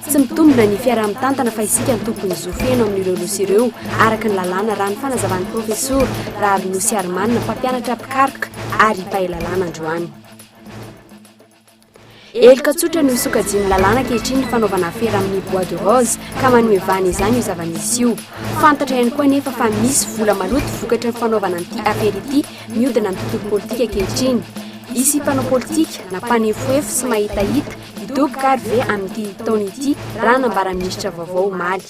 Tsy mitombina ny fiaraha-mitantana fa isika no tompon'ny zo feno amin'ireo nosy ireo, araka ny lalàna, raha ny fanazavan'ny Profesora Raharinosiarimanana, mpampianatra mpikaroka ary mpahay lalàna androany. Heloka tsotra no sokajian'ny lalàna ankehitriny ny fanaovana afera amin'ny bois de rose ka manome vahana izany io zava-misy io. Fantatra ihany koa anefa fa misy vola maloto vokatry ny fanaovana an'ity afera ity mihodina amin'ny tontolo politika ankehitriny. Hisy mpanao politika na mpanefoefo sy mahitahita Hidoboka ary ve amin'ity taona ity raha nambara minisitra vaovao omaly.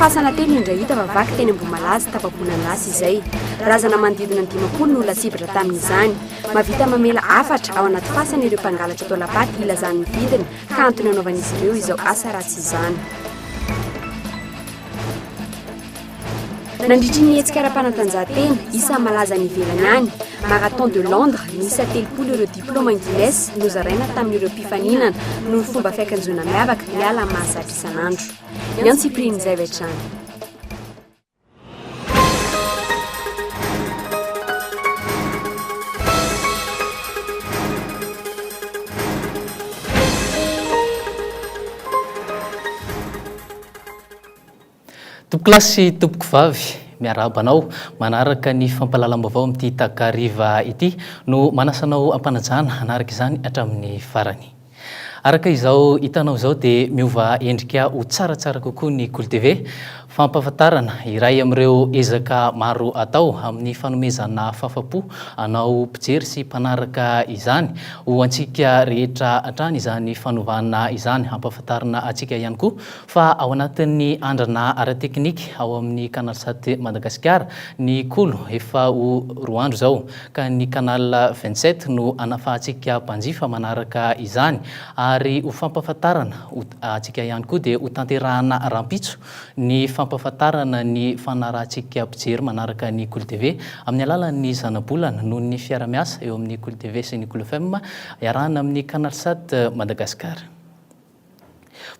Fasana telo indray hita fa vaky teny Ambohimalaza tapaboana lasa izay. Razana manodidina ny dimampolo no lasibatra tamin'izany. Mavita mamela hafatra ao anaty fasana ireo mpangalatra atao lapaty hilazany ny vidiny ka antony anaovan'izy ireo izao asa ratsy izany. Nandritry ny hetsika ara-panatanjahantena isan'ny malaza any ivelany any, Marathon de Londres, niisa telopolo ireo diplaoma Guinness nozaraina tamin'ireo mpifaninana noho ny fomba fiakanjoana miavaka miala amin'ny mahazatra isan'andro. Ny antsipirian'izay avy hatrany. Tompokolahy sy tompokovavy, miarahaba anao. Manaraka ny fampahalalam-baovao amin'ity takariva ity no manasa anao hampanajana hanaraka izany hatramin'ny farany. Araka izao hitanao izao dia miova endrika ho tsaratsara kokoa ny Kolo TV. Fampahafantarana, iray amin'ireo ezaka maro atao amin'ny fanomezana fahafa-po anao mpijery sy mpanaraka izany. Ho antsika rehetra hatrany izany fanovana izany. Hampahafantarina antsika ihany koa Fa ao anatin'ny andrana ara-teknika ao amin'ny Canalsat Madagasikara ny kolo efa ho roa andro izao, ka ny Canal vingt sept no hanafahantsika mpanjifa manaraka izany, ary ho fampahafantarana antsika ihany koa dia hotanterahana rahampitso ny fampahafantarana ny fanarahantsika mpijery manaraka ny Kolo TV amin'ny alalan'ny zanabolana noho ny fiarahamiasa eo amin'ny Kolo TV sy ny Kolo FM iarahana amin'ny Canalsat Madagasikara.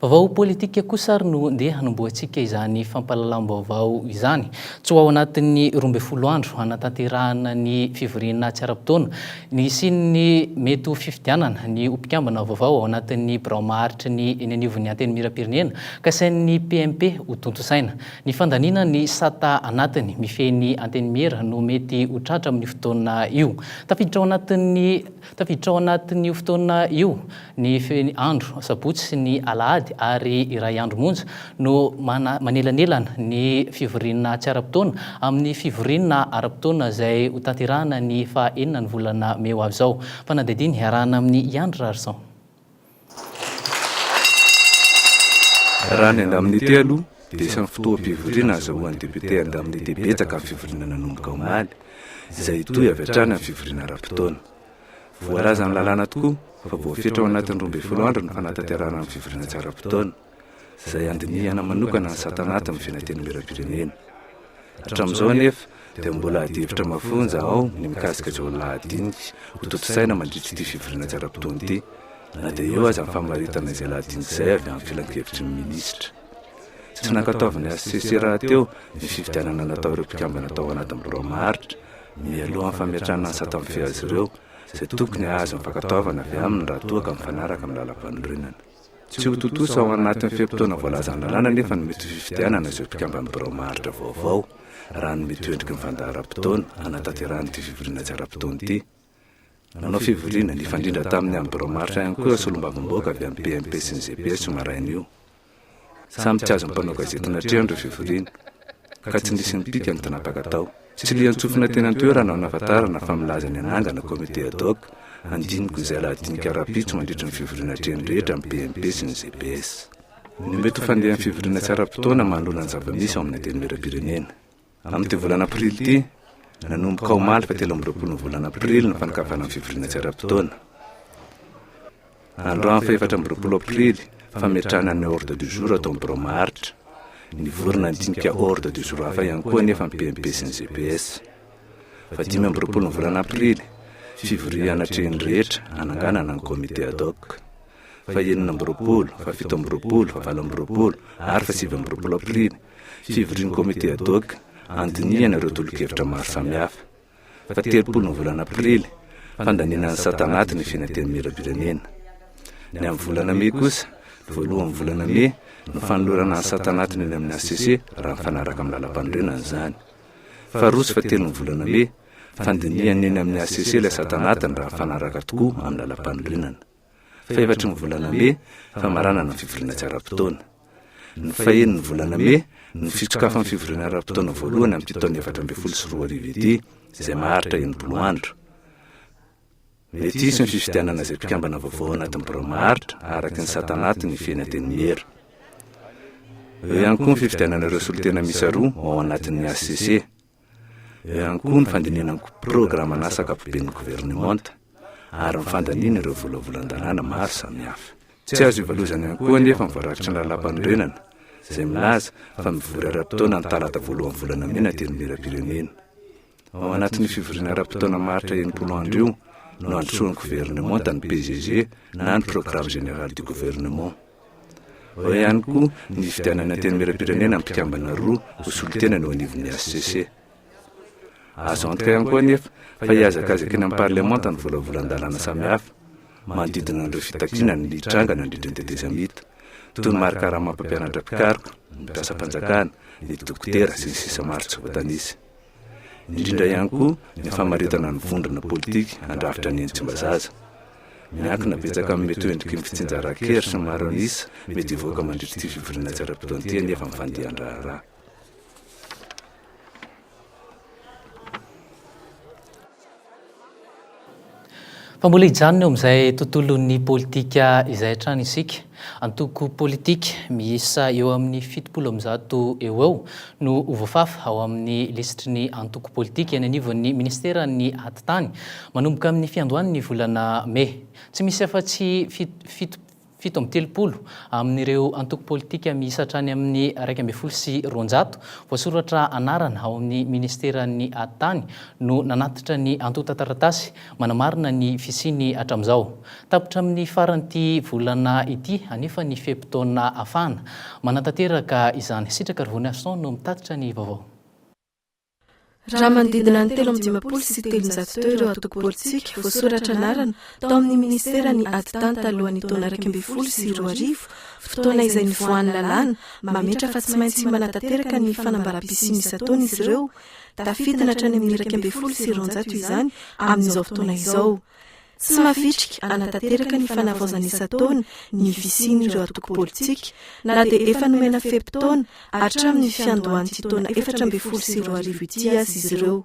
Vaovao politika kosa ary no ndeha hanombohantsika izany fampahalalam-baovao izany. Tsy ho ao anatin'ny roa ambin'ny folo andro hanatanterahana ny fivoriana tsy ara-potoana ny hisian'ny mety ho fifidianana ny ho mpikambana vaovao ao anatin'ny birao maharitry ny eny anivon'ny Antenimierampirenena kasain'ny PMP hotontosaina. Ny fandaniana ny sata anatiny mifehy ny Antenimiera no mety ho tratra amin'io fotoana io. Tafiditra ao anatin'ny Tafiditra ao anatin'io fotoana io ny andro sabotsy sy ny alahady ary iray andro monja no manelanelana ny fivoriana tsy ara-potoana amin'ny fivoriana ara-potoana izay hotanterahana ny faha enina ny volana mey ho avy izao. Fanadihadiana iarahana amin'i Andry Rarison. Raha ny andamin'ity aloha dia isan'ny fotoam-pivoriana ahazahoan'ny député andamin'ity betsaka ny fivoriana nanomboka omaly, izay hitohy avy hatrany amin'ny fivoriana ara-potoana. Voalazan'ny lalàna tokoa fa voafetra ho anatin'ny roa ambin'ny folo andro ny fanatanterahana ny fivoriana tsy ara-potoana. izay handinihana manokana ny sata anaty ny Fenentenimieram-pirenena. Hatramin'izao anefa dia mbola adihevitra mafonja ao ny mikasika izao lahadinika ho tontosaina mandritra ity fivoriana tsara mpitony ity, na dia eo aza ny famaritana izay lahadinika izay avy amin'ny filankevitry ny minisitra. Tsy nankatoavin'ny hcc rahateo ny fifidianana natao ireo mpikambana tao anatin'ny birao maharitra mialohan'ny fametrahana ny sata mifehy azy ireo, izay tokony hahazo ny fankatoavana avy aminy raha toa ka mifanaraka amin'ny lalampanorenana. Tsy ho tontosa ao anatin'ny fe-potoana voalazan'ny lalàna anefa ny mety ho fifidianana izay mpikamban'ny birao maharitra vaovao, raha ny mety ho endriky ny fandaharam-potoana hanataterahan'ity fivoriana tsy ara-potoana ity. Nanao fivoriana, nifandrindra tamin'ny amin'ny birao maharitra ihany koa ireo solombavambahoaka avy amin'ny PMP sy ny GPS io maraina io. Samy tsy azon'ny mpanao gazety natrehana ireo fivoriana. ka tsy nisy nipika ny tnapaka tao. Tsy lian-tsofina teny an-toerana aho nahafantarana fa milaza ny hanangana comité ad hoc handiniko izay lahadinika rahampitso mandritry ny fivoriana atrehiny rehetra amin'ny PMP sy ny GPS. Ny mety ho fandehan'ny fivoriana tsy ara-potoana manoloana ny zava-misy ao amin'ny Antenimierampirenena. Amin'ity volana aprily ity, nanomboka omaly fahatelo amby roapolo ny volana aprily ny fanokafana ny fivoriana tsy ara-potoana. Androany fahefatra amby roapolo aprily, fametrahana ny ordre du jour tao amin'ny birao maharitra. Nivorona ny dinika ordre du jour hafa ihany koa anefa ny PMP sy ny GPS. Fahadimy amby roapolo ny volana aprily, fivoriana anatrehin'ny rehetra hananganana ny comité ad hoc. Fahenina amby roapolo, fahafito amby roapolo, fahavalo amby roapolo ary fahasivy amby roapolo aprily, fivorian'ny comité ad hoc handinihana ireo tolokevitra maro samihafa. Fahatelopolo ny volana aprily, fandaniana ny sata anaty ny Fian'ny Antenimierampirenena. Ny amin'ny volana mey kosa, ny voalohan'ny volana mey, no fanolorana ny sata anatiny eny amin'ny hcc raha mifanaraka amin'ny lalampanorenana izany. Faharoa sy fahatelo ny volana mey, fandinihana eny amin'ny hcc ilay sata anatiny raha mifanaraka tokoa amin'ny lalampanorenana. Fahefatry ny volana Mey, famaranana ny fivoriana tsy ara-potoana. Ny faheny ny volana Mey no fitsokafan'ny fivoriana ara-potoana voalohany amin'ity taona efatra ambin'ny folo sy roa arivo ity, izay maharitra enimpolo andro. Mety hisy ny fifidianana izay mpikambana vaovao ao anatin'ny birao maharitra, araka ny sata anaty ny fiheny Antenimiera. Eo ihany koa ny fifidianana ireo solontena miisa roa ao anatin'ny hcc. Eo ihany koa ny fandinihana ny programan'asa ankapoben'ny governemanta ary ny fandaniana ireo volavolan-dalàna maro samihafa. Tsy azo ivalozana ihany koa anefa ny voarakitry ny Lalàmpanorenana izay milaza fa mivory ara-potoana ny talata voalohan'ny volana Mey na Antenimierampirenena. Ao anatin'io fivoriana ara-potoana maharitra enimpolo andro io no handrosoan'ny governemanta ny PGG na ny Programme Général du Gouvernement. Ao ihany koa ny nifidianan'ny Antenimierampirenena mpikambana roa ho solontena ny eo anivon'ny hcc. Azo antoka ihany koa anefa fa hihazakazaka eny amin'ny Parlemanta ny volavolan-dalàna samihafa manodidina an'ireo fitakiana ny hitranga nandritra ny tetezamita, toy ny marikarama mpampianatra mpikaroka, ny mpiasam-panjakana, ny dokotera, sy ny sisa maro tsy voatanisa. indrindra ihany koa ny famaritana ny vondrona politika handrafitra ny Tsimbazaza. Miankina betsaka amin'ny mety ho endriky ny fitsinjaran-kery sy ny maro an'isa mety hivoaka mandritra ity fivoriana tsy ara-potoana ity anefa ny fandehan-draharaha. Fa mbola hijanona eo amin'izay tontolon'ny politika izay hatrany isika. Antoko politika miisa eo amin'ny fitopolo amby zato eo ho eo no ho voafafa ao amin'ny lisitry ny antoko politika eny anivon'ny Ministeran'ny Atitany manomboka amin'ny fiandohan'ny volana mey. Tsy misy afa-tsy fito Fito amby telopolo amin'ireo antoko politika miisa hatrany amin'ny iraika ambin'ny folo sy roanjato voasoratra anarana ao amin'ny Ministeran'ny Ady Tany no nanatitra ny antontan-taratasy manamarina ny fisiany hatramin'izao. Tapitra amin'ny faran'ity volana ity anefa ny fe-potoana ahafahana manatanteraka izany. Sitrakarivony Arson no mitatitra ny vaovao. Raha manodidina ny telo amby dimampolo sy telonjato teo ireo antoko politika voasoratra anarana tao amin'ny minisitera ny ady tany talohan'ny taona iraika ambin'ny folo sy roa arivo, fotoana izay nivoahan'ny lalàna mametra fa tsy maintsy manatanteraka ny fanambaràm-pisiany isan-taona izy ireo. Tafidina hatrany amin'ny iraika ambin'ny folo sy roanjato izany amin'izao fotoana izao. Tsy mavitrika hanatanteraka ny fanavaozana isan-taona ny fisian'ireo antoko politika, na dia efa nomena fe-potoana hatramin'ny fiandohan'ity taona efatra ambin'ny folo sy roa arivo ity aza izy ireo.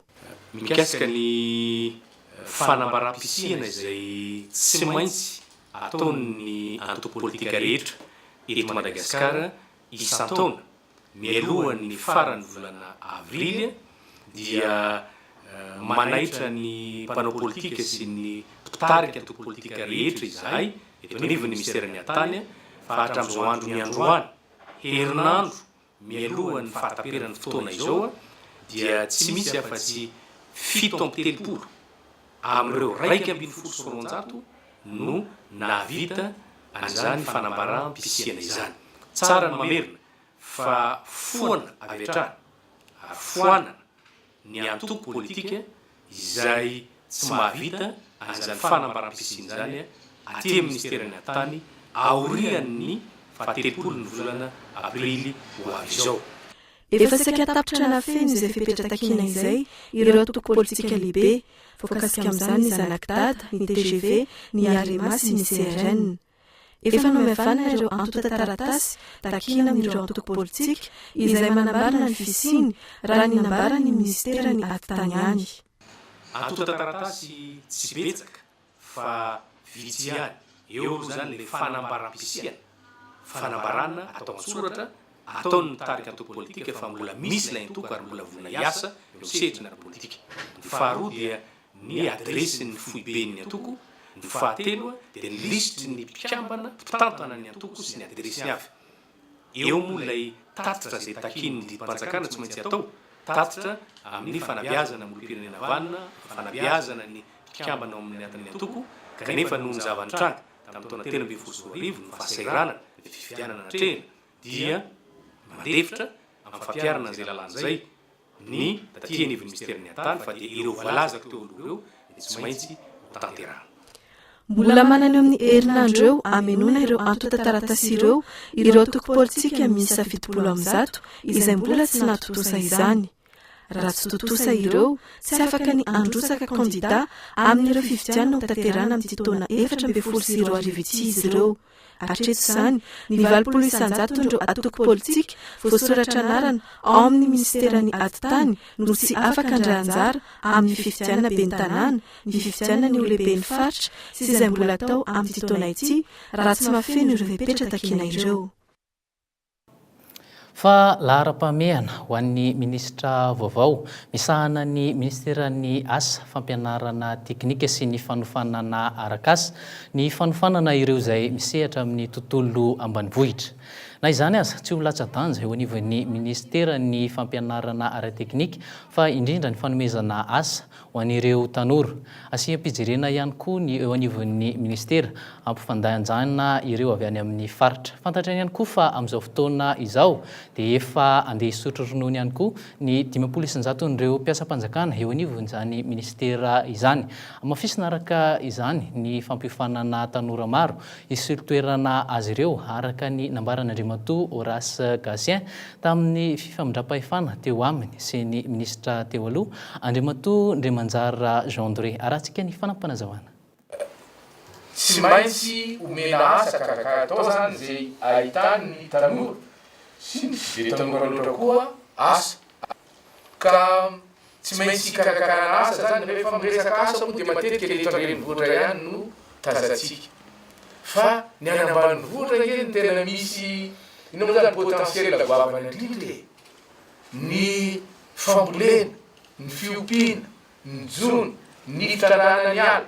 Mikasika ny fanambaràm-pisiana izay tsy maintsy ataon'ny antoko politika rehetra eto Madagasikara isan-taona, mialohan'ny faran'ny volana avrily dia manaitra ny mpanao politika sy ny mpitarika antoko politika rehetra izahay eto anivon'ny Minisiteran'ny Hattany fa hatramin'izao andro niandroany, herinandro mialohan'ny fahataperan'ny fotoana izao dia tsy misy afa-tsy fito amby telopolo. amin'ireo iraika ambin'ny folo sy roanjato no nahavita an'izany fanambaràm-pisiana izany. Tsara ny mamerina fa foana avy hatrany ary foanana ny antoko politika izay tsy mahavita an'izany fanambaràm-pisiana izany aty amin'ny Minisiteran'ny Atitany aorian'ny faha-telopolon'ny volana aprily ho avy izao. Efa saika tapitra nahafeno izay fepetra takiana izay ireo antoko politika lehibe, voakasika amin'izany ny Zanaky Dada, ny tgv, ny Arema sy ny CRN. Efa nomevanana ireo antontan-taratasy takiana amin'ireo antoko politika izay manambara ny fisiany, raha ny nambaran'ny minisitera ny atitany any. Antontan-taratasy tsy betsaka fa vitsy ihany eo aloha izany ilay fanambaram-pisiana, fanambarana atao an-tsoratra, ataon'ny mitarika antoko politika fa mbola misy ilay antoko ary mbola vonona hiasa eo amin'ny sehatry ny ara-politika. Ny faharoa dia ny adiresin'ny foiben'ny antoko, ny fahatelo dia ny lisitry ny mpikambana mpitantana ny antoko sy ny adiresiny avy. Eo moa ilay tatitra izay takian'ny didim-panjakana tsy maintsy atao, tatitra amin'ny fanabeazana ny olom-pirenena vanona, fanabeazana ny mpikambana ao amin'ny atin'ny antoko, kanefa noho ny zava-nitranga tamin'ny taona telo ambin'ny folo sy roa arivo, ny fahasahiranana, ny fifidianana natrehina, dia mandefitra amin'ny fampiharana an'izay lalàna izay. ny taty anivon'ny Minisiterin'ny Haantany fa dia ireo voalazako teo aloha ireo dia tsy maintsy hotanterahina. Mbola manana eo amin'ny herinandro eo hamenoana ireo antontan-taratasy ireo ireo antoko politika miisa fitopolo amby zato izay mbola tsy nahatontosa izany. Raha tsy tontosa ireo, tsy afaka ny handrotsaka kandidà amin'ireo fifidianana hotanterahina amin'ity taona efatra ambin'ny folo sy roa arivo ity izy ireo. Hatreto izany, ny valopolo isan-jaton'ireo antoko politika voasoratra anarana ao amin'ny minisiteran'ny Atitany no tsy afaka handray anjara amin'ny fifidianana ben'ny tanàna, ny fifidianana ny ho lehiben'ny faritra sy izay mbola atao amin'ity taona ity raha tsy mahafeno ireo fepetra takina ireo. Fa laharam-pahamehana ho an'ny minisitra vaovao misahana ny minisiteran'ny Asa, fampianarana teknika sy ny fanofanana arak'asa ny fanofanana ireo izay misehatra amin'ny tontolo ambanivohitra. Na izany aza, tsy ho latsa-danja eo anivon'ny minisiteran'ny Fampianarana ara-teknika fa indrindra ny fanomezana asa Ho an'ireo tanora, asiam-pijerena ihany koa ny eo anivon'ny Ministera hampifandanjana ireo avy any amin'ny faritra. Fantatrany ihany koa fa amin'izao fotoana izao dia efa andeha hisotro ronono ihany koa ny dimampolo isanjaton'ireo mpiasam-panjakana eo anivon'izany Ministera izany. Hamafisina araka izany ny fampiofanana tanora maro hisolo toerana azy ireo araka ny nambaran'Andriamatoa Horace Gatien Tamin'ny fifamindram-pahefana teo aminy sy ny minisitra teo aloha, Andriamatoa Ndriamanjara Jean Dore. Arahantsika ny fanampim-panazavana. Tsy maintsy omena asa kaka atao izany izay ahitany ny tanora sy ny tsy be tanora loatra koa asa. ka tsy maintsy hikarakarana asa zany, rehefa miresaka asa moa dia matetika ny eto an-drenivohitra ihany no tazantsika fa ny any ambanivohitra ange no tena misy ino moa zany potentiel goavana indrindra e! ny fambolena, ny fiompiana, ny jono, ny fitrandrahana ny ala.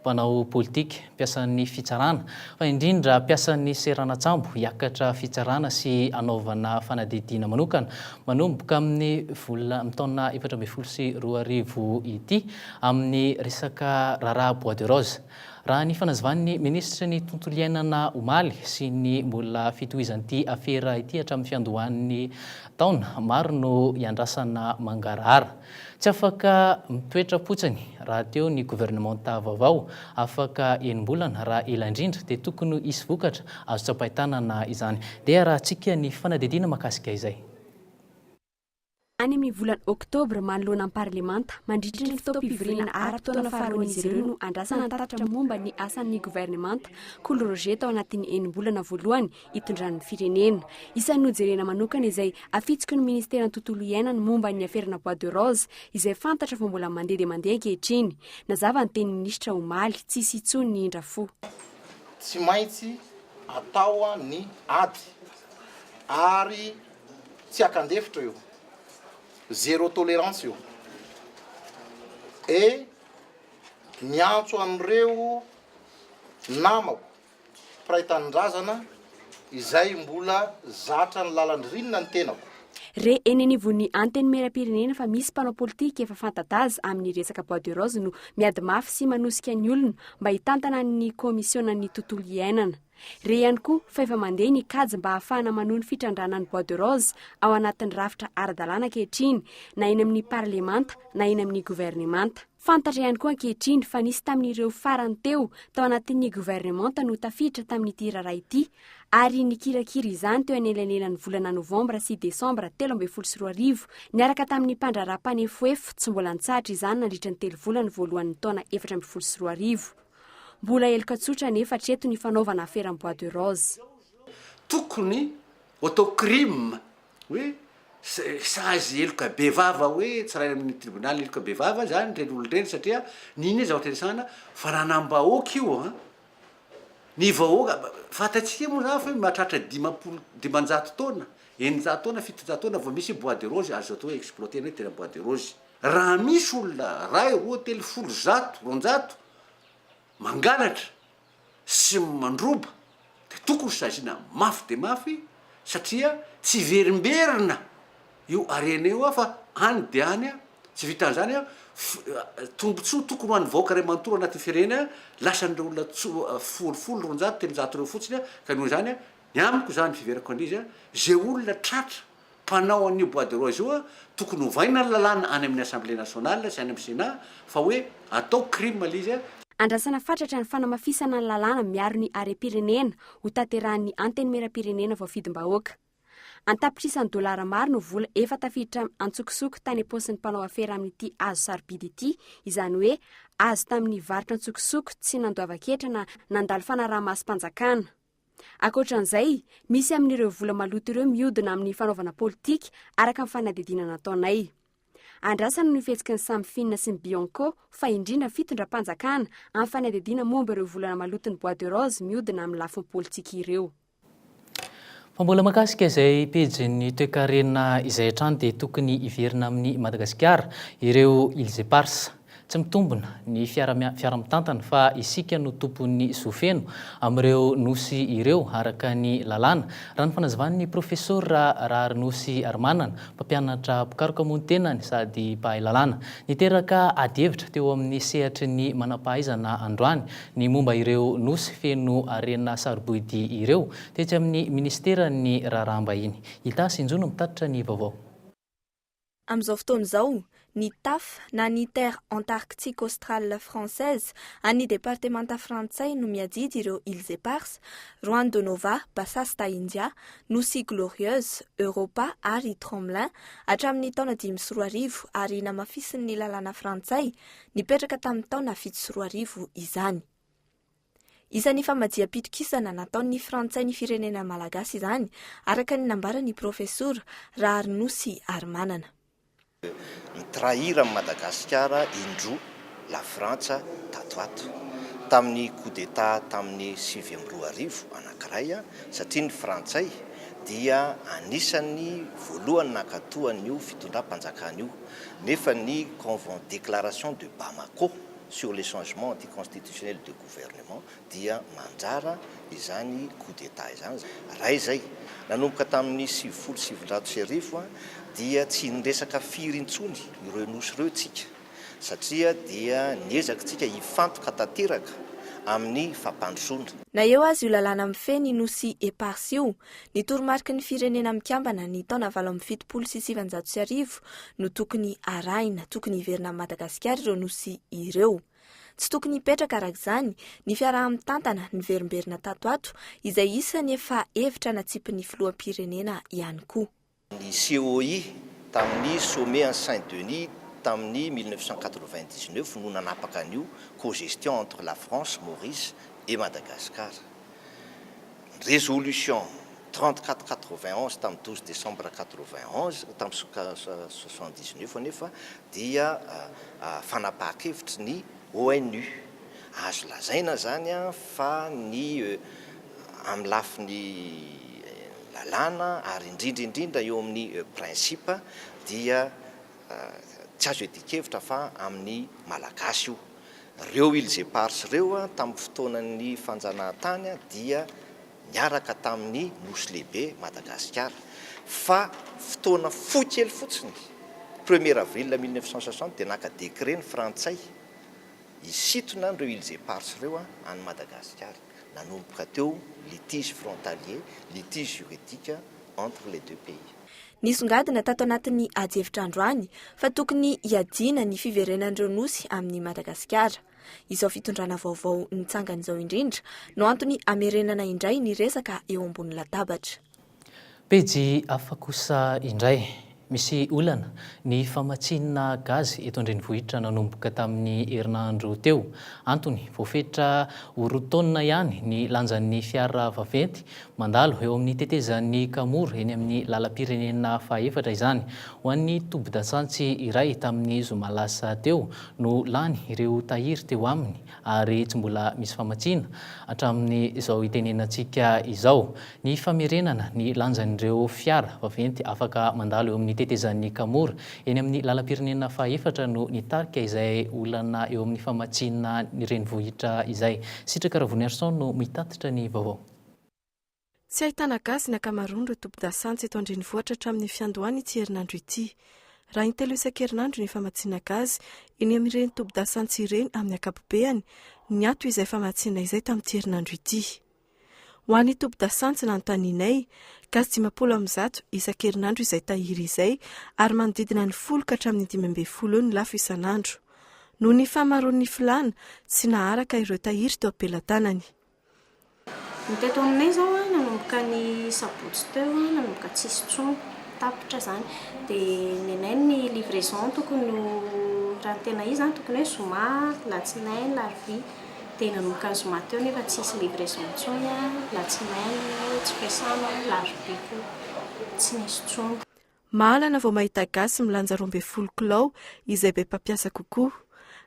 mpanao politika, mpiasan'ny fitsarana, fa indrindra mpiasan'ny seranan-tsambo hiakatra fitsarana sy hanaovana fanadidiana manokana manomboka amin'ny volana amin'ny taona efatra ambin'ny folo sy roa arivo ity amin'ny resaka raharaha bois de rose. Raha ny fanazavan'ny minisitry ny tontolo iainana omaly sy ny mbola fitohizan'ity afera ity hatramin'ny fiandohan'ny taona, maro no iandrasana mangarahara. Tsy afaka mitoetra fotsiny rahateo ny governemanta vaovao, afaka enim-bolana raha ela indrindra, dia tokony hisy vokatra azo tsapain-tanana izany. Dia arahantsika ny fanadihadiana mahakasika izay. Any amin'ny volana oktobra manoloana ny parlemanta, mandritry ny fotoam-pivoriana ara-potoana faharoan'izy ireo no andrasana ny tatitra momba ny asan'ny governemanta, Kolo Roger tao anatin'ny enim-bolana voalohany itondran'ny firenena. Isan'ny nojerena manokana izay afitsiky ny ministeran'ny tontolo iainana momba ny aferana bois de rose izay fantatra fa mbola mandeha dia mandeha ankehitriny. Nazava ny tenin'ny minisitra omaly, tsy hisy intsony ny indrafo. Tsy maintsy atao ny ady ary tsy akan-defitra io, zéro tolérance io. Et miantso an'ireo namako Mpiray tanindrazana izay mbola zatra ny lalan-dririnina ny tenako. Re eny anivon'ny Antenimierampirenena fa misy mpanao politika efa fanta-daza amin'ny resaka bois de rose no miady mafy sy manosika ny olona mba hitantana ny kaomisionan'ny tontolo iainana. Re ihany koa fa efa mandeha ny kajy mba hahafahana manohy ny fitrandrahana ny bois de rose ao anatin'ny rafitra ara-dalàna ankehitriny na eny amin'ny parlemanta na eny amin'ny governemanta. Fantatra ihany koa ankehitriny fa nisy tamin'ireo farany teo tao anatin'ny governemanta no tafiditra tamin'ity raharaha ity ary nikirakira izany teo anelanelan'ny volana novambra sy desambra telo ambin'ny folo sy roa arivo niaraka tamin'ny mpandraharaha mpanefoefo tsy mbola nitsahatra izany nandritra ny telo volana voalohan'ny taona efatra ambin'ny folo sy roa arivo. Mbola heloka tsotra anefa hatreto ny fanaovana afera amin'ny bois de rose. Tokony Auto crime hoe sazy heloka bevava hoe tsaraina amin'ny tribonaly heloka bevava zany reny olona reny satria nini ny zavatra iresahana fa raha anam-bahoaka io an ny vahoaka fantatsika moa zany fa mahatratra dimampolo dimanjato taona eninjato taona fitonjato taona vao misy bois de rose azo atao hoe exploiter ny hoe tena bois de rose raha misy olona ray roa telo folo zato roanjato mangalatra sy mandroba dia tokony saziana mafy dia mafy satria tsy hiverimberina io harena io fa any dia any, tsy vitan'izany tombotsoa tokony ho an'ny vahoaka iray manontolo anatin'ny firenena lasan'ireo olona folo folo, roanjato, telonjato ireo fotsiny ka noho izany ny amiko izany fiheverako an'izy izay olona tratra mpanao an'io bois de rose io a, tokony ovaina ny lalàna any amin'ny Assemblée nationale sy any amin'ny Sénat fa hoe atao crime ilay izy a. Andrasana fatratra ny fanamafisana ny lalàna miaro ny harem-pirenena ho tanterahan'ny Antenimierampirenena voafidim-bahoaka. An-tapitrisany dolara maro no vola efa tafiditra an-tsokosoko tany am-paosin'ny mpanao afera amin'ity hazo sarobidy ity, izany hoe azo tamin'ny varotra an-tsokosoko tsy nandoavan-ketra na nandalo fanaraha-masom-panjakana. Ankoatra an'izay, misy amin'ireo vola maloto ireo miodina amin'ny fanaovana politika, araka ny fanadihadiana nataonay. Andrasana ny fihetsiky ny Samfin sy ny Bianco, fa indrindra ny fitondram-panjakana, amin'ny fanadihadiana momba ireo volana maloton'ny Bois de Rose miodina amin'ny lafiny politika ireo. Fa mbola mahakasika izay pejin'ny toekarena izay hatrany dia tokony hiverina amin'i Madagasikara ireo îles éparses. Tsy mitombina ny fiara fiara mitantana fa isika no tompon'ny zo feno amin'ireo nosy ireo araka ny lalàna, raha ny fanazavan'ny Profesora Raharinosy Harimanana, mpampianatra mpikaroka moa ny tenany sady mpahay lalàna. Niteraka adihevitra teo amin'ny sehatry ny manampahaizana androany ny momba ireo nosy feno harena sarobidy ireo tetsy amin'ny Minisiteran'ny Raharaham-bahiny. I Tasy Injono mitatitra ny vaovao. Amin'izao fotoana izao, ny Taf, na ny Terre Antarctique Australe Française, an'ny departemanta frantsay no miadidy ireo Îles Éparses, Juan de Nova, Bassas da Índia, Nosy Glorieuse, Europa ary Tromelin, hatramin'ny taona dimy sy roa arivo ary namafisin'ny lalàna frantsay nipetraka tamin'ny taona fito sy roa arivo izany. Isan'ny famajiam-pitokisana nataon'ny Frantsay ny firenena malagasy izany, araka ny nambaran'ny Profesora Raharinosy Harimanana. Mi-trahir an'i Madagasikara indroa la Frantsa tato ato. Tamin'ny coup d'Etat tamin'ny sivy amby roa arivo anankiray, satria ny Frantsay dia anisan'ny voalohany nankatoa an'io fitondram-panjakana io, nefa ny Conven-Déclaration de Bamako, sur les changements anticonstitutionnels de gouvernement dia mandrara izany coup d'Etat izany. Raha izay, nanomboka tamin'ny sivifolo sy sivinjato sy arivo dia tsy niresaka firy intsony ireo Nosy ireo tsika satria dia niezaky tsika hifantoka tanteraka amin'ny fampandrosoana. Na eo aza io lalàna mifehy ny Nosy Eparses io, Ny toromariky ny Firenena Mikambana ny taona valo amby fitopolo sy sivanjato sy arivo no tokony arahina, tokony hiverina amin'i Madagasikara ireo nosy ireo. Tsy tokony hipetraka araka izany ny fiaraha-mitantana niverimberina tato ato izay isany efa hevitra natsipin'ny Filoham-pirenena ihany koa. ny COI tamin'ny Sommet an'i Saint Denis tamin'ny mille neuf cent quatre-vingt-dix-neuf no nanapaka an'io co-gestion entre la France, Maurice et Madagascar. Ny résolution trente-quatre quatre-vingt-onze tamin'ny douze décembre quatre-vingt-onze, tamin'ny soixante-dix-neuf anefa dia fanapahan-kevitry ny ONU. Azo lazaina izany fa ny amin'ny lafiny lalàna ary indrindra indrindra eo amin'ny principe dia tsy azo iadian-kevitra fa amin'ny Malagasy io. Ireo Îles Éparses ireo tamin'ny fotoanan'ny fanjanahantany dia niaraka tamin'ny Nosy Lehibe, Madagasikara, fa fotoana fohy kely fotsiny, premier avril mille neuf cent soixante dia naka décret ny Frantsay, Hisintona ireo îles éparses ireo any Madagasikara. Nanomboka teo litige frontalier, litige juridique entre les deux pays. Nisongadina tato anatin'ny adihevitra androany fa tokony hiadiana ny fiverenan'ireo nosy amin'i Madagasikara. Izao fitondrana vaovao nitsangana izao indrindra no antony hamerenana indray ny resaka eo ambony latabatra. Pejy hafa kosa indray. Misy olana ny famatsiana gaz eto an-drenivohitra nanomboka tamin'ny herinandro teo. Antony, voafetra ho roa taonina ihany ny lanjan'ny fiara vaventy mandalo eo amin'ny tetezan'i Kamory eny amin'ny lalam-pirenena fahefatra izany. Ho an'ny tobin-dasantsy iray tamin'ny zoma lasa teo no lany ireo tahiry teo aminy. ary tsy mbola misy famatsiana hatramin'izao itenenantsika izao ny famerenana ny lanjan'ireo fiara vaventy afaka mandalo eo amin'ny tetezan'ny Kamory eny amin'ny lalam-pirenena fahaefatra no nitarika izay olana eo amin'ny famatsiana ny renivohitra izay. Sitraka Ravoniarison no mitatitra ny vaovao. Tsy ahitana gasy ny ankamaroan'ireo tobin-dasantsy eto an-drenivohitra hatramin'ny fiandohan' ity herinandro ity. Raha in-telo isan-kerinandro ny famatsiana gazy eny amin'ireny tobin-dasantsy ireny amin'ny ankapobeany, niato izay famatsiana izay tamin'ity herinandro ity. Ho an'ny tobin-dasantsy nanontanianay, gasy dimampolo amin'ny zato isan-kerinandro izay tahiry izay ary manodidina ny folo ka hatramin'ny dimy ambin'ny folo eo ny lafo isan'andro. Noho ny fahamaroan'ny filàna, tsy naharaka ireo tahiry teo am-pelatanany. Ny teto aminay izao a, nanomboka ny sabotsy teo a, nanomboka tsy hisy intsony, tapitra izany. Dia nenay ny livraison tokony ho, raha ny tena izy a, tokony hoe zoma, alatsinainy, alarobia. Dia nanomboka ny zoma teo nefa tsy hisy livraison intsony a, alatsinainy tsy fiasana, alarobia koa tsy nisy intsony. Mahalana vao mahita gasy milanja roa ambin'ny folo kilao izay be mpampiasa kokoa.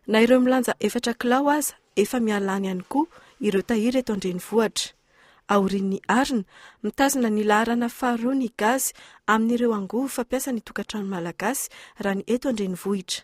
Na ireo milanja efatra kilao aza efa miala any ihany koa ireo tahiry eto an-drenivohitra. Aorian'ny arina, mitazona ny laharana faharoa ny gasy amin'ireo angovo fampiasa ny tokantrano malagasy raha ny eto an-drenivohitra.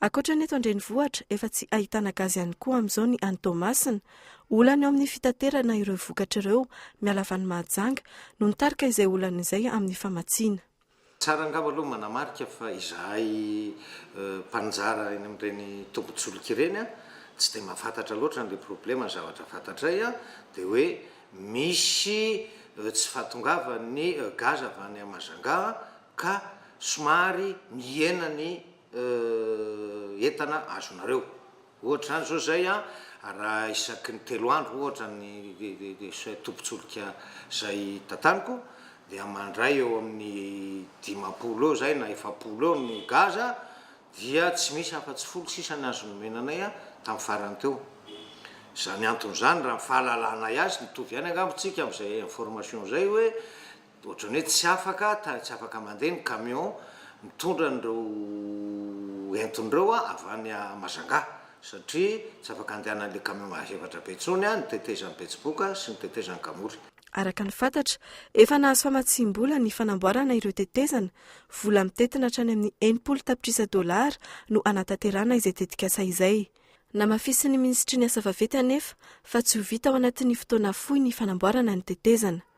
Ankoatra ny eto an-drenivohitra, efa tsy ahitana gaz ihany koa amin'izao ny any Toamasina. Olana eo amin'ny fitaterana ireo vokatra ireo, miala avy any Mahajanga, no nitarika izay olana izay amin'ny famatsiana. Tsara angamba aloha manamarika fa izahay mpaninjara eny amin'ireny tombin-tsolika ireny tsy dia mahafantatra loatra an'ilay problema, ny zavatra fantatray dia hoe misy tsy fahatongavan'ny gaz avy any Mahajanga ka somary mihena ny entana azonareo. Ohatra izany izao izay an, raha isaky ny telo andro ohatra ny tobin-tsolika izay tataniko dia mandray eo amin'ny dimampolo eo izay na efapolo eo ny gaz dia tsy misy afa-tsy folo sisa ny azo nomena anay tamin'ny farany teo. Izany antony izany raha ny fahalalanay azy, mitovy ihany angamba tsika amin'izay information izay hoe, Ohatran'ny hoe tsy afaka tany tsy afaka mandeha ny camion mitondra an'ireo entona ireo avy any Majanga satria tsy afaka andehanan'ilay camion mahefatra be intsony ny tetezan'i Betsiboka sy ny tetezan'i Kamory. Araka ny fantatra, efa nahazo famatsiam-bola ny fanamboarana ireo tetezana. Vola mitentina hatrany amin'ny enimpolo tapitrisa dolara no hanatanterahana izay tetikasa izay. Namafisin'ny minisitry ny Asa vaventy anefa fa tsy ho vita ao anatin'ny fotoana fohy ny fanamboarana ny tetezana.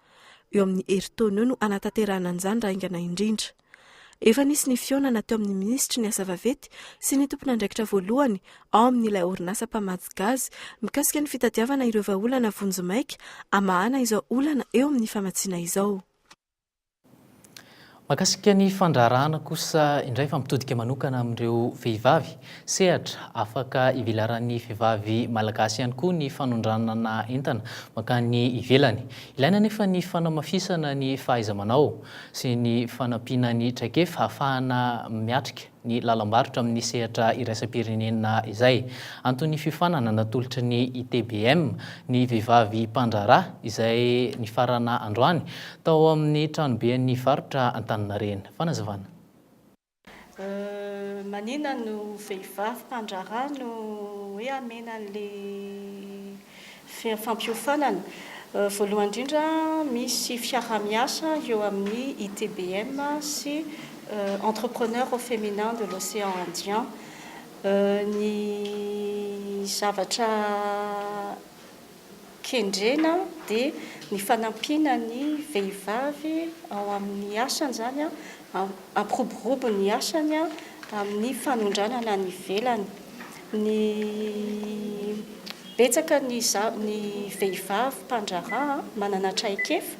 Eo amin'ny herintaona eo no hanatanterahana an'izany raha haingana indrindra. Efa nisy ny fihaonana teo amin'ny minisitry ny asa vaventy sy ny tompon'andraikitra voalohany ao amin'ilay orinasa mpamatsy gaz mikasika ny fitadiavana ireo vahaolana vonjimaika hamahana izao olana eo amin'ny famatsiana izao. Mahakasika ny fandraharahana kosa indray fa mitodika manokana amin'ireo vehivavy. Sehatra afaka ivelaran'ny vehivavy malagasy ihany koa ny fanondranana entana mankany ivelany. Ilaina anefa ny fanamafisana ny fahaiza-manao sy ny fanampiana ny traikefa ahafahana miatrika ny lalam-barotra amin'ny sehatra iraisam-pirenena izay. Anton'ny fiofanana natolotry ny ITBM ny vehivavy mpandraharaha izay nifarana androany tao amin'ny tranoben'ny varotra Antaninarenina. Fanazavana. Manina no vehivavy mpandraharaha no hoe hamena an'le. Fampiofanana, Voalohany indrindra, misy fiaraha-miasa eo amin'ny ITBM sy Entrepreneurs au Féminin de l'Océan Indien. Ny zavatra kendrena dia ny fanampiana ny vehivavy ao amin'ny asany izany, hampiroborobo ny asany amin'ny fanondranana any ivelany. Ny betsaka ny ny vehivavy mpandraharaha manana traikefa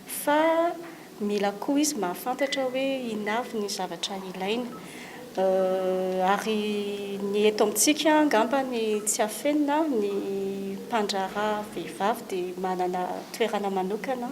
fa mila koa izy mahafantatra hoe inona avy ny zavatra ilainy ary ny eto amintsika angamba ny tsy afenina ny mpandraharaha vehivavy dia manana toerana manokana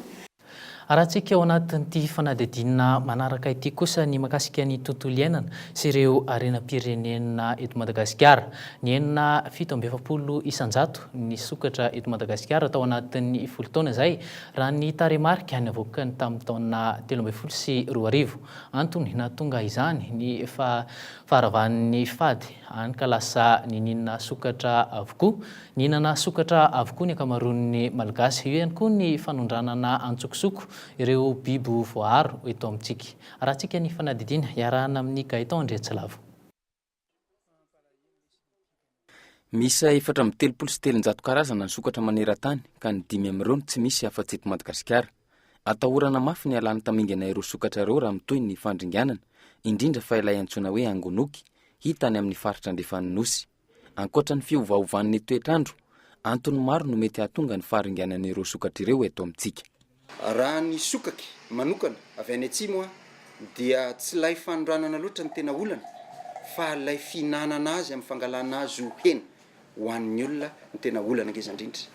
Arahantsika ao anatin'ity fanadihadiana manaraka ity kosa ny mahakasika ny tontolo iainana sy ireo harenam-pirenena eto Madagasikara. Nihenona fito amby efapolo isan-jato ny sokatra eto Madagasikara tao anatin'ny folo taona izay, raha ny tarehimarika navoakany tamin'ny taona telo ambin'ny folo sy roa arivo. Antony nahatonga izany ny faharavan'ny fady, hany ka lasa niniana sokatra avokoa Nihinana sokatra avokoa ny ankamaroan'ny Malgasy. Eo ihany koa ny fanondranana antsokosoko ireo bibo voaaro eto amintsika. Arahantsika ny fanadidiana, iarahana amin'i Gaëtan Andriatsilavo. Miisa efatra amby telopolo sy telonjato karazana ny sokatra maneran-tany ka ny dimy amin'ireo no tsy misy afa-tsy eto Madagasikara. Atahorana mafy ny halan'ny tamingana ireo sokatra ireo raha mitohy ny fandringanana, indrindra fa ilay antsoina hoe angonoky, hita any amin'ny faritra andrefan'ny Nosy. Ankoatra ny fiovaovan'ny toetr'andro, antony maro no mety hahatonga ny faharinganan'ireo sokatra ireo eto amintsika. Raha ny sokaky manokana avy any atsimo dia tsy ilay fanondranana loatra no tena olana fa ilay fihinanana azy amin'ny fangalana azy ho hena ho an'ny olona no tena olana ngeza indrindra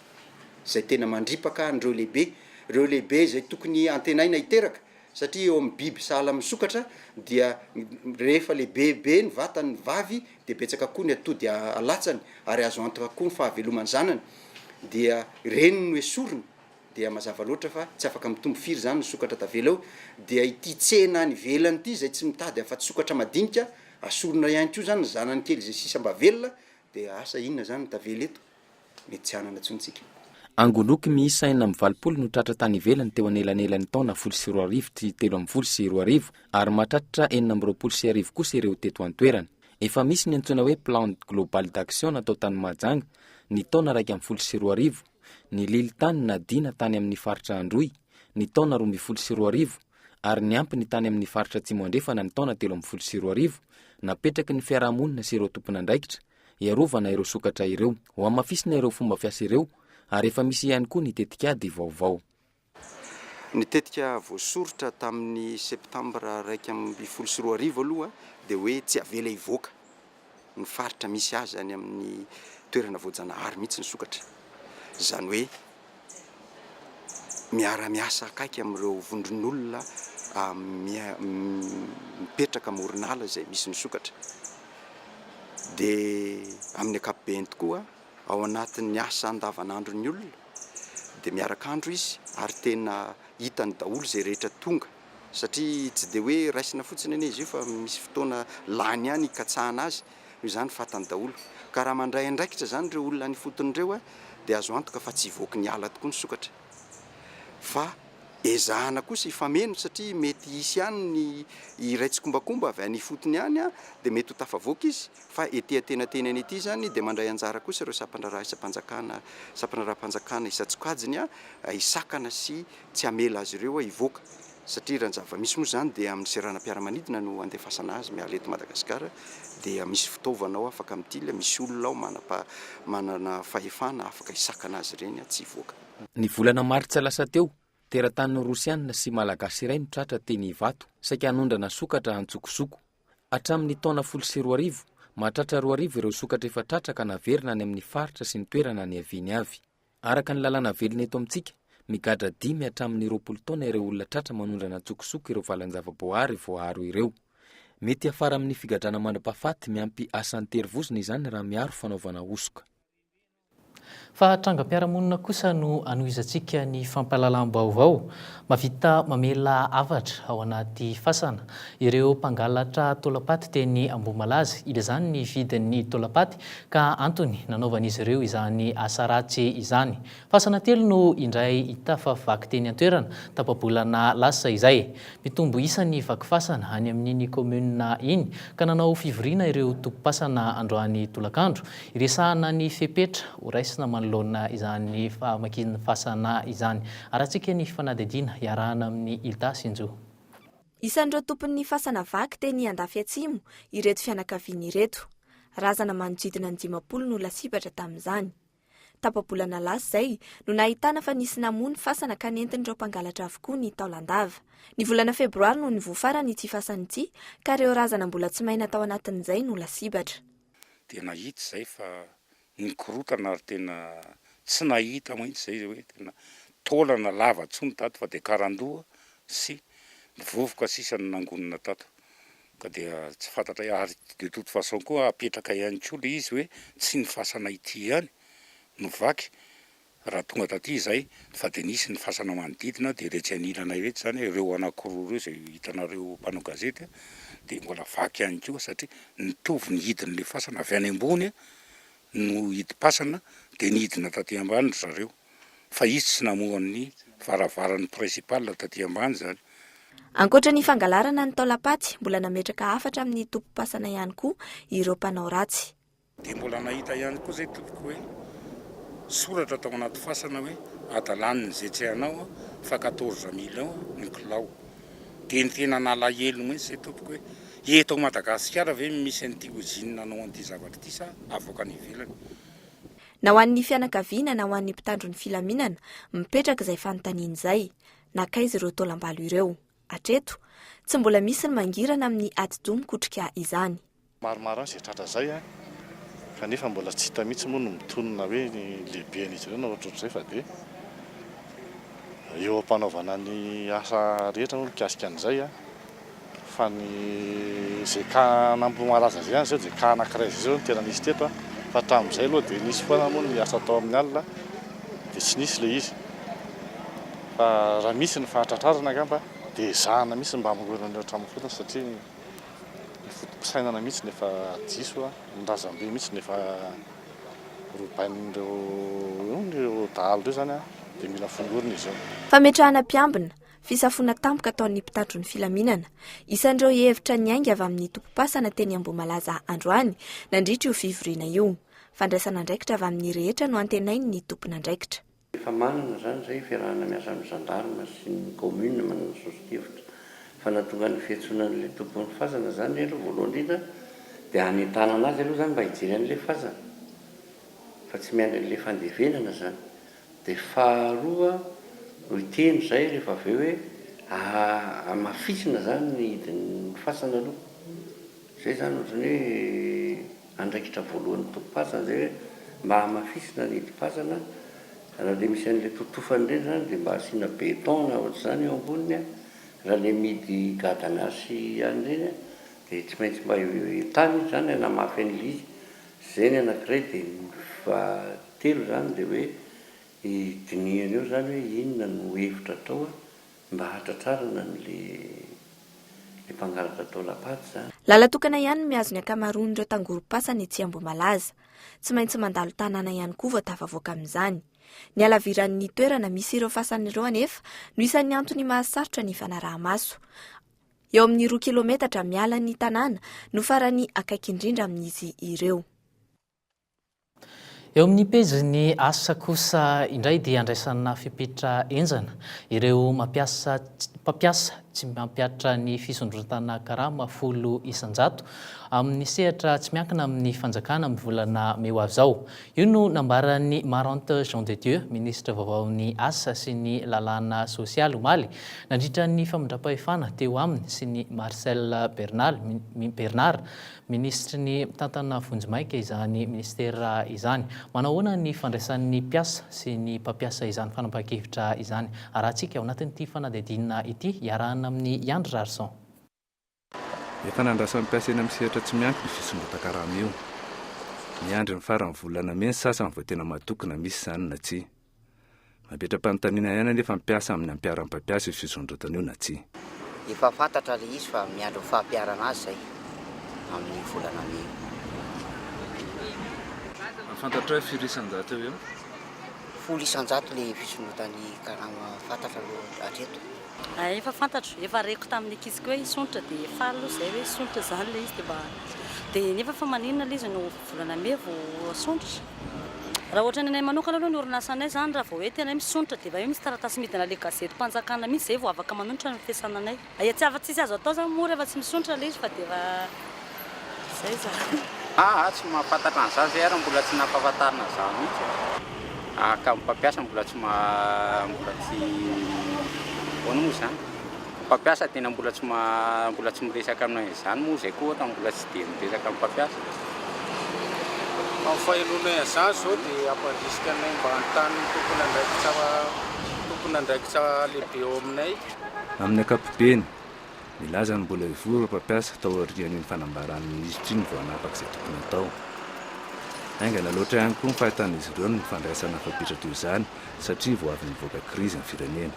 izay tena mandripaka an'ireo lehibe, ireo lehibe izay tokony antenaina hiteraka Satria eo amin'ny biby sahala amin'ny sokatra dia rehefa lehibebe ny vatan'ny vavy dia betsaka koa ny atody alatsany ary azo antoka koa ny fahaveloman'ny zanany dia ireny no esorina dia mazava loatra fa tsy afaka mitombo firy izany ny sokatra tavela eo dia ity tsena any ivelany ity izay tsy mitady afa-tsy sokatra madinika asorina ihany koa izany ny zanany kely izay sisa mba velona dia asa inona izany no tavela eto? mety tsy hanana intsony isika. Angoloky miisa enina amby valopolo no tratra tany ivelany teo anelanelan'ny taona folo sy roa arivo sy telo ambin'ny folo sy roa arivo ary mahatratra enina amby roapolo sy arivo kosa ireo teto an-toerana. Efa misy ny antsoina hoe Plan Global d'Action natao tany Mahajanga ny taona iraika ambin'ny folo sy roa arivo, ny lilin-tany nadiana tany amin'ny faritra Androy ny taona roa ambin'ny folo sy roa arivo ary ny ampiny tany amin'ny faritra Atsimo Andrefana ny taona telo ambin'ny folo sy roa arivo napetraky ny fiarahamonina sy ireo tompon'andraikitra hiarovana ireo sokatra ireo. Hohamafisina ireo fomba fiasa ireo ary efa misy ihany koa ny tetikady vaovao. Ny tetika voasoritra tamin'ny septambra iraika ambin'ny folo sy roa arivo aloha dia hoe tsy avela hivoaka ny faritra misy azy any amin'ny toerana voajanahary mihitsy ny sokatra. Izany hoe miara-miasa akaiky amin'ireo vondron'olona mipetraka amoron'ala izay misy ny sokatra dia amin'ny ankapobeny tokoa ao anatin'ny asa andavanandron'ny olona dia miaraka andro izy ary tena hitany daholo izay rehetra tonga satria tsy dia hoe raisina fotsiny anie izy io fa misy fotoana lany ihany hikatsahana azy noho izany fantany daholo. Ka raha mandray andraikitra izany ireo olona any ifotony ireo dia azo antoka fa tsy hivoaka ny ala tokoa ny sokatra. Fa ezahana kosa hifameno satria mety hisy ihany ny iray tsikombakomba avy any ifotony any dia mety ho tafavoaka izy fa ety antenatenany ety izany dia mandray anjara kosa ireo sampandraraha isam-panjakana sampandraraham-panjakana isan-tsokajiny hisakana sy tsy hamela azy ireo hivoaka satria raha ny zava-misy moa izany dia amin'ny seranam-piaramanidina no andefasana azy miala eto Madagasikara dia misy fitaovana ao afaka mitily, misy olona ao manana fahefana afaka hisakana azy ireny tsy hivoaka. Ny volana martsa lasa teo, teratany rosianina sy malagasy iray no tratra teny Ivato, saika hanondrana sokatra antsokosoko. Hatramin'ny taona folo sy roa arivo, mahatratra roa arivo ireo sokatra efa tratra ka naverina any amin'ny faritra sy ny toerana niaviany avy. Araka ny lalàna velona eto amintsika, migadra dimy hatramin'ny roapolo taona ireo olona tratra manondrana an-tsokosoko ireo valan-javaboahary voaaro ireo. Mety hiafara amin'ny figadrana mandra-pahafaty miampy asa an-terivozona izany raha miaro fanaovana hosoka. Fa trangam-piarahamonina kosa no anohizantsika ny fampahalalam-baovao. Mahavita mamela hafatra ao anaty fasana ireo mpangalatra taolam-paty teny Ambohimalaza. Ilazany ny vidin'ny taolam-paty Ka antony nanaovan'izy ireo izany asa ratsy izany. Fasana telo no indray hita fa vaky teny an-toerana, tapa-bolana lasa izay. Mitombo isa ny vaky fasana any amin'iny kaominina iny, ka nanao fivoriana ireo tompom-pasana androany tolakandro, hiresahana ny fepetra horaisina manoloana izany famakian-fasana izany. Harantsika ny fanadihadiana iarahana amin'ny Hilda Sinjo. Isan'ireo tompon'ny fasana vaky teny Andafy Atsimo ireto fianakaviana ireto. Razana manodidina ny dimampolo no lasibatra tamin'izany. Tapa-bolana lasa izay no nahitana fa nisy namoa ny fasana ka nentin'ireo mpangalatra avokoa ny taolan-dava. Ny volana febroary no nivoha farany ity fasana ity ka ireo razana mbola tsy may natao anatin'izay no lasibatra. Dia nahita izay fa Nikorontana ary tena tsy nahita mihitsy izay hoe tena taolana lava intsony tato fa dia karandoha sy ny vovoka sisa no nangonina tato ka dia tsy fantatray ary de toute façon koa apetraka ihany koa ilay izy hoe tsy ny fasana ity ihany no vaky Raha tonga taty izay fa dia nisy ny fasana manodidina dia iretsy anilanay iretsy izany ireo anakiroa ireo izay hitanareo mpanao gazety dia mbola vaky ihany koa satria nitovy ny hidin'ilay fasana avy any ambony no hidim-pasana dia nidina taty ambany ry zareo fa izy tsy namoha ny varavaran'ny principal taty ambany izany. Ankoatra ny fangalarana ny taolam-paty, mbola nametraka hafatra amin'ny tobim-pasana ihany koa ireo mpanao ratsy. Dia mbola nahita ihany koa izay tompoko hoe soratra tao anaty fasana hoe adalany ny zetsy anao fa quatorze millions ny kilao. Dia ny tena nalahelo mihitsy izay tompoko hoe eto ao Madagasikara ve no misy an'ity ozine nanao an'ity zavatra ity sa avoaka any ivelany. Na ho an'ny fianakaviana na ho an'ny mpitandro ny filaminana, mipetraka izay fanontaniana izay, nankaiza ireo taolambalo ireo? Hatreto, tsy mbola misy ny mangirana amin'ny atidoha mikotrika izany. Maromaro ihany izay tratra izay an! kanefa mbola tsy hita mihitsy moa ny mitonona hoe ny lehiben'izy ireo na ohatrohatr'izay fa dia eo am-panaovana ny asa rehetra moa mikasika an'izay an! fa ny izay cas namboho malaza izay ihany izao dia cas anankiray izay izao no tena nisy teto an! fa hatramin'izay aloha dia nisy foana moa ny asa atao amin'ny alina dia tsy nisy ilay izy fa raha misy ny fahatratrarana angamba dia ezahana mihitsy ny mba hamoronana eo hatramin'ny fotoana satria ny foto-pisainana mihitsy no efa diso, ny razambe mihitsy no efa robain'ireo eo ny ireo dahalo ireo izany dia mila fongorina izy io. Fametrahana mpiambina, fisafoana tampoka ataon'ny mpitatro ny filaminana, isan'ireo hevitra niainga avy amin'ny tompom-pasana teny Ambohimalaza androany nandritra io fivoriana io. Fandraisana andraikitra avy amin'ny rehetra no antenain'ny tompon'andraikitra. Efa manana izany izay fiarahana miasa amin'ny gendarme sy ny commune manana soso-kevitra fa nahatonga ny fiantsonan'ilay tompon'ny fazana izany aloha voalohany indrindra dia hanentanana azy aloha izany mba hijery an'ilay fazana fa tsy miandry an'ilay fandevenana izany dia faharoa no hiteny izay rehefa avy eo hoe hamafisina izany ny hidin'ny fasana aloha. Izay izany ohatran'ny hoe andraikitra voalohan'ny tompom-pasana izay hoe mba hamafisina ny hidim-pasana, raha ilay misy an'ilay totofany ireny izany dia mba asiana béton na ohatr'izany eo amboniny an, raha ilay mihidy gadana sy ihany ireny an dia tsy maintsy mba tany izy izany hanamafy an'ilay izy, izay ny anankiray dia ny fahatelo izany dia hoe dinihana eo izany hoe inona no hevitra atao an. Mba hahatratrarana an le le mpangalatra taolam-paty zany. Lalan-tokana ihany no mihazo ny ankamaroan'ireo tangorom-pasana etsy Ambohimalaza. Tsy maintsy mandalo tanàna ihany koa vao tafavoaka amin'izany. Ny halaviran'ny toerana misy ireo fasana ireo anefa no isan'ny antony mahasarotra ny fanaraha-maso. Eo amin'ny roa kilometatra miala ny tanàna no farany akaiky indrindra amin'izy ireo. Eo amin'ny pejin'ny asa kosa indray dia andraisana fepetra henjana ireo mampiasa mpampiasa tsy mampiatra ny fisondrotana karama folo isan-jato amin'ny sehatra tsy miankina amin'ny fanjakana amin'ny volana mey ho avy izao. Io no nambaran'ny Marante Jean de Dieu, minisitra vaovaon'ny asa sy ny lalàna sosialy omaly nandritra ny famindram-pahefana teo aminy sy ny Marcel Bernal, Bernard, Minisitry ny Mitantana vonjimaika izany minisitera izany. Manao ahoana ny fandraisan'ny mpiasa sy ny mpampiasa izany fanapahan-kevitra izany? Arahantsika ao anatin'ity fanadihadiana ity iarahana amin'i Yandry Rarison. Efa nandrasan'ny mpiasa eny amin'ny sehatra tsy miankina io fisondrotan-karama io. Miandry ny faran'ny volana mey ny sasany vao tena matoky na misy izany na tsia. Mametra-panontaniana ihany anefa ny mpiasa amin'ny hampiharan'ny mpampiasa io fisondrotana io na tsia. Efa fantatra ilay izy fa miandry ny fampiharana azy izay amin'io volana mey io. Fantatrao hoe firy isan-jato eo ho eo? Folo isan-jato ilay fisondrotan'ny karama fantatra aloha hatreto. Hay efa fantatro, efa reko tamin'ny ankiziko hoe hisonitra dia faly aloha izay hoe hisonitra izany ilay izy dia mba dia nefa fa maninona ilay izy no volana mey vao asonitra? Raha ohatra ny anay manokana aloha ny orinasanay izany raha vao hoe tena hoe misonitra dia efa hoe misy taratasy midina ilay gazetim-panjakana mihitsy izay vao afaka manonitra ny fiasananay. Hay atsy afa-tsy tsy azo atao izany moa rehefa tsy misonitra ilay izy fa dia efa. Zay zany. Aa tsy mahafantatra an'izany zay ary mbola tsy nampahafantarina zah mihitsy e. Aa ka mpampiasa mbola tsy maha mbola tsy ahoana moa izany? Mpampiasa tena mbola tsy maha mbola tsy miresaka aminay an'izany moa zay koa ohatra mbola tsy dia miresaka amin'ny mpampiasa. Raha fahenonay an'izany izao dia hampandrisika anay mba hanontany ny tompon'andraikitra tompon'andraikitra lehibe ao aminay. Amin'ny ankapobeny. Nilaza ny mbola hivory ireo mpampiasa tao aorian'iny fanambaran'ny minisitra iny vao hanapaka izay tokony hatao. Haingana loatra ihany koa ny fahitan'izy ireo ny fandraisana fapetra toy izany satria vao avy nivoaka krizy ny firenena.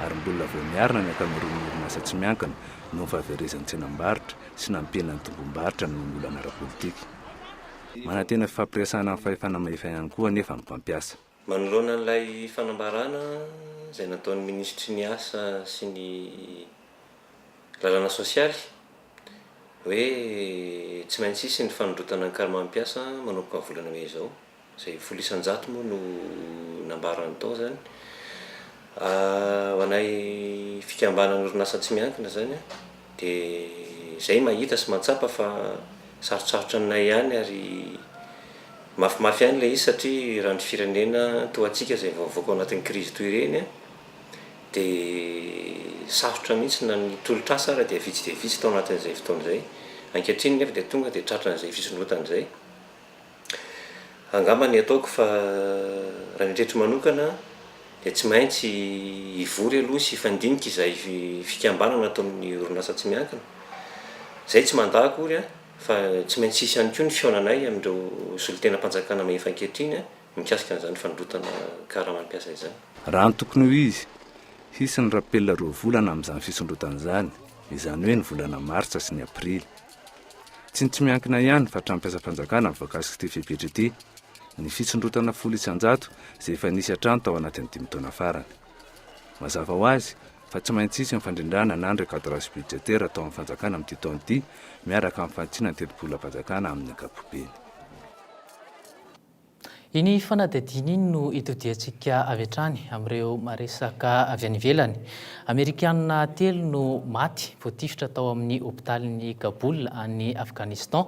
Ary mbola vao miarina ny ankamaroan'ny orinasa tsy miankina noho ny fahaverezan'ny tsenam-barotra sy nampihenana ny tombom-barotra noho ny olana ara-politika. Manantena fifampiresahana amin'ny fahefana mahefa ihany koa anefa ny mpampiasa. Manoloana an'ilay fanambarana izay nataon'ny minisitry ny Asa sy ny lalàna sosialy hoe tsy maintsy hisy ny fanondrotana ny karmam-piasa manomboka ny volana mey izao, izay folo isan-jato moa no nambarany tao izany, ho anay fikambanan'orinasa tsy miankina izany. Dia izay mahita sy mahatsapa fa sarotsarotra aminay ihany ary mafimafy ihany ilay izy satria raha ny firenena toa antsika izay vao avoaka ao anatin'ny krizy toy ireny dia sarotra mihitsy na ny tolotr'asa ary dia vitsy dia vitsy tao anatin'izay fotoana izay. Ankehitriny nefa dia tonga dia tratran'izay fisondrotana izay. Angamba ny ataoko fa raha ny tretiko manokana dia tsy maintsy hivory aloha sy hifandinika izay fikambanana ataon'ny orinasa tsy miankina. Izay tsy mandà akory fa tsy maintsy hisy ihany koa ny fihaonanay amin'ireo solontenam-panjakana mahefa ankehitriny mikasika an'izany fandrotana karaman'ny mpiasa izany. Raha ny tokony ho izy, hisy ny rapel roa volana amin'izany fisondrotana izany, izany hoe ny volana martsa sy ny aprily. Tsy ny tsy miankina ihany fa hatramin'ny mpiasam-panjakana no voakasik'ity fepetra ity. Ny fisondrotana folo isan-jato izay efa nisy hatrany tao anatin'ny dimy taona farany. Mazava ho azy fa tsy maintsy hisy ny fandrindràna na ny recadrage budgétaire atao amin'ny fanjakana amin'ity taona ity miaraka amin'ny fantsina ny tetibolam-panjakana amin'ny ankapobeny. Iny fanadihadiana iny no itodihantsika avy hatrany amin'ireo maresaka avy any ivelany. Amerikana telo no maty voatifitra tao amin'ny hopitalin'i Kabul any Afghanistan.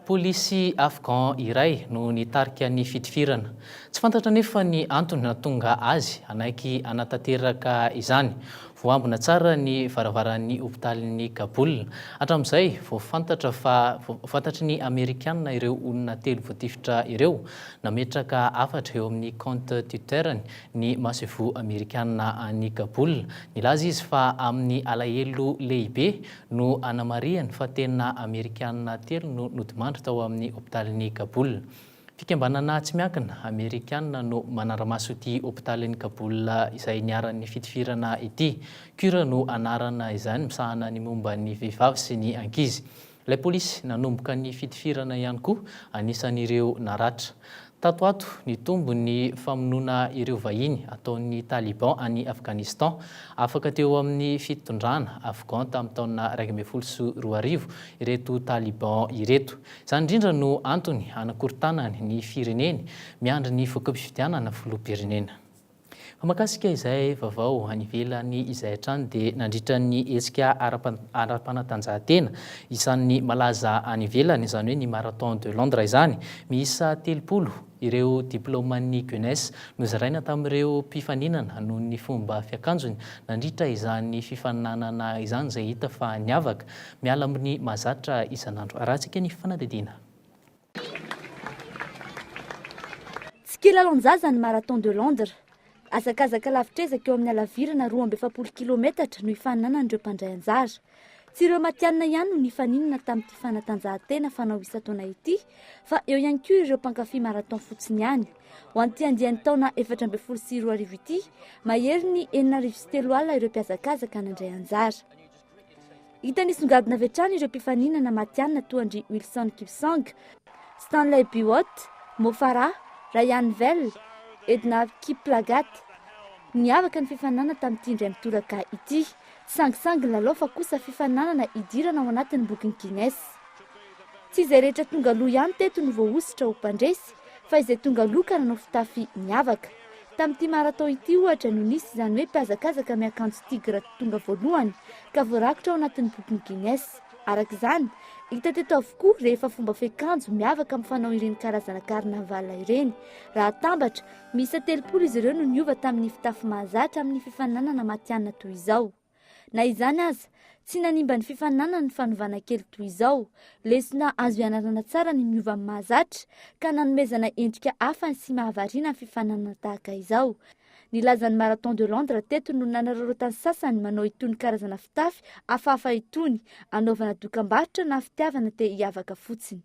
Polisy afghan iray no nitarika ny fitifirana. Tsy fantatra anefa ny antony nahatonga azy hanaiky hanatanteraka izany. Voaambina tsara ny varavaran'ny hopitalin'i Kaboul. Hatramin'izay, vao fantatra fa fantatry ny Amerikana ireo olona telo voatifitra ireo. Nametraka hafatra eo amin'ny kaonty Twitter-ny ny masoivoho Amerikana any Kaboul. Nilaza izy fa amin'ny alahelo lehibe no anamarihany fa tena Amerikana telo no nodimandry tao amin'ny hopitalin'i Kaboul. Fikambanana tsy miankina Amerikana no manara-maso ity hopitalin'i Kabul izay niharan'ny fitifirana ity. Cure no anarana izany, misahana ny momba ny vehivavy sy ny ankizy. Ilay polisy nanomboka ny fitifirana ihany koa anisan'ireo naratra. Tato ho ato, nitombo ny famonoana ireo vahiny ataon'ny Taliban any Afghanistan. Afaka teo amin'ny fitondrana Afghan tamin'ny taona iraika ambin'ny folo sy roa arivo ireto Taliban ireto. Izany indrindra no antony hanakorontanany ny fireneny miandry ny voka-pifidianana filoham-pirenena. Fa mahakasika izay vaovao any ivelany izay hatrany dia nandritra ny hetsika ara-panatanjahantena isan'ny malaza any ivelany, izany hoe ny Marathon de Londres izany, miisa telopolo, Ireo diplaoman'ny Gunes nozaraina tamin'ireo mpifaninana noho ny fomba fiakanjony nandritra izany fifaninanana izany izay hita fa niavaka miala amin'ny mahazatra isan'andro. Arahantsika ny fanadihadiana. Tsy kilalaon-jaza ny Marathon de Londres. Hazakazaka lavitr'ezaka eo amin'ny halavirana roa amby efapolo kilometatra no hifaninanan'ireo mpandray anjara. Tsy ireo matihanina ihany no nifaninana tamin'ity fanatanjahantena fanao isan-taona ity fa eo ihany koa ireo mpankafy marathon fotsiny ihany. Ho an'ity andiany taona efatra ambin'ny folo sy roa arivo ity, mahery ny enina arivo sy telo alina ireo mpihazakazaka nandray anjara. Hita nisongadina avy hatrany ireo mpifaninana matihanina toa an-dry Wilson Kipsang, Stanley Biwott, Mo Farah, Rayan Vell, Edna Kiplagat. Niavaka ny fifaninanana tamin'ity indray mitoraka ity. Tsy sangisangy lalao fa kosa fifaninanana hidirana ao anatin'ny bokin'i Guinness. Tsy izay rehetra tonga aloha ihany teto no voahosotra ho mpandresy fa izay tonga aloha ka nanao fitafy niavaka. Tamin'ity marathon ity ohatra no nisy izany hoe mpihazakazaka miakanjo tigre tonga voalohany ka voarakitra ao anatin'ny bokin'i Guinness. Araka izany, hita teto avokoa rehefa fomba fiakanjo miavaka mifanao ireny karazana carnaval ireny raha atambatra Miisa telopolo izy ireo no niova tamin'ny fitafy mahazatra amin'ny fifaninanana matihanina toy izao. Na izany aza, tsy nanimba ny fifaninanana ny fanovana kely toy izao. Lesona azo ianarana tsara ny miova amin'ny mahazatra ka nanomezana endrika hafa sy mahavariana ny fifaninanana tahaka izao. Ny lazan'ny Marathon de Londres teto no nanararaotan'ny sasany manao itony karazana fitafy hafahafa itony, anaovana dokambarotra na fitiavana te hiavaka fotsiny.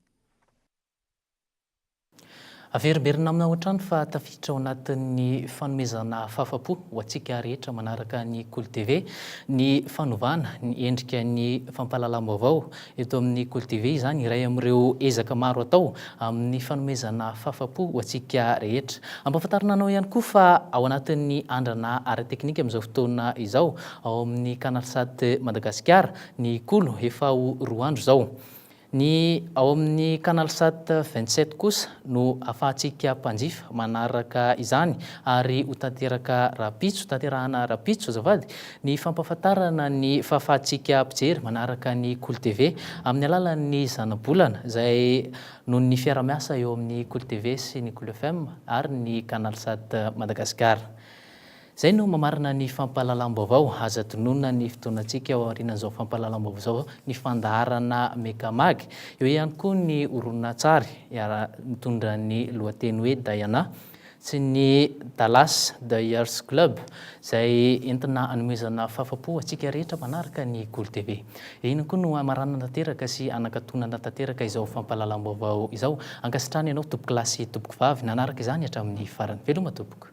Averimberina aminy ao an-trano fa tafiditra ao anatin'ny fanomezana fahafa-po ho antsika rehetra manaraka ny Kolo TV ny fanovana ny endrika ny fampahalalam-baovao eto amin'ny Kolo TV. Izany iray amin'ireo ezaka maro atao amin'ny fanomezana fahafa-po ho antsika rehetra. Ampahafantarina anao ihany koa fa ao anatin'ny andrana ara-teknika amin'izao fotoana izao ao amin'ny Canalsat Madagasikara ny Kolo efa ho roa andro izao. Ny ao amin'ny Canalsat vingt sept kosa no afahantsika mpanjifa manaraka izany ary ho tanteraka rahampitso, tanterahana rahampitso azafady, ny fampahafantarana ny fahafahantsika mpijery manaraka ny Kolo TV amin'ny alalan'ny zanabolana izay noho ny fiarahamiasa eo amin'ny Kolo TV sy ny Kolo FM ary ny Canalsat Madagasikara. Izay no mamarana ny fampahalalam-baovao. Aza tononina ny fotoanantsika ao aorianan'izao fampahalalam-baovao izao ny fandaharana Megamag. Eo ihany koa ny horonantsary mitondra ny lohateny hoe Diana sy ny Dallas Dayers Club izay entina anomezana fahafapo ho antsika rehetra mpanaraka ny Goly TV. Eo ihany koa no hamaranana tanteraka sy hanakatonana tanteraka izao fampahalalam-baovao izao. Ankasitrahana ianao tompokolahy sy tompokovavy nanaraka izany hatramin'ny farany. Veloma tompoko.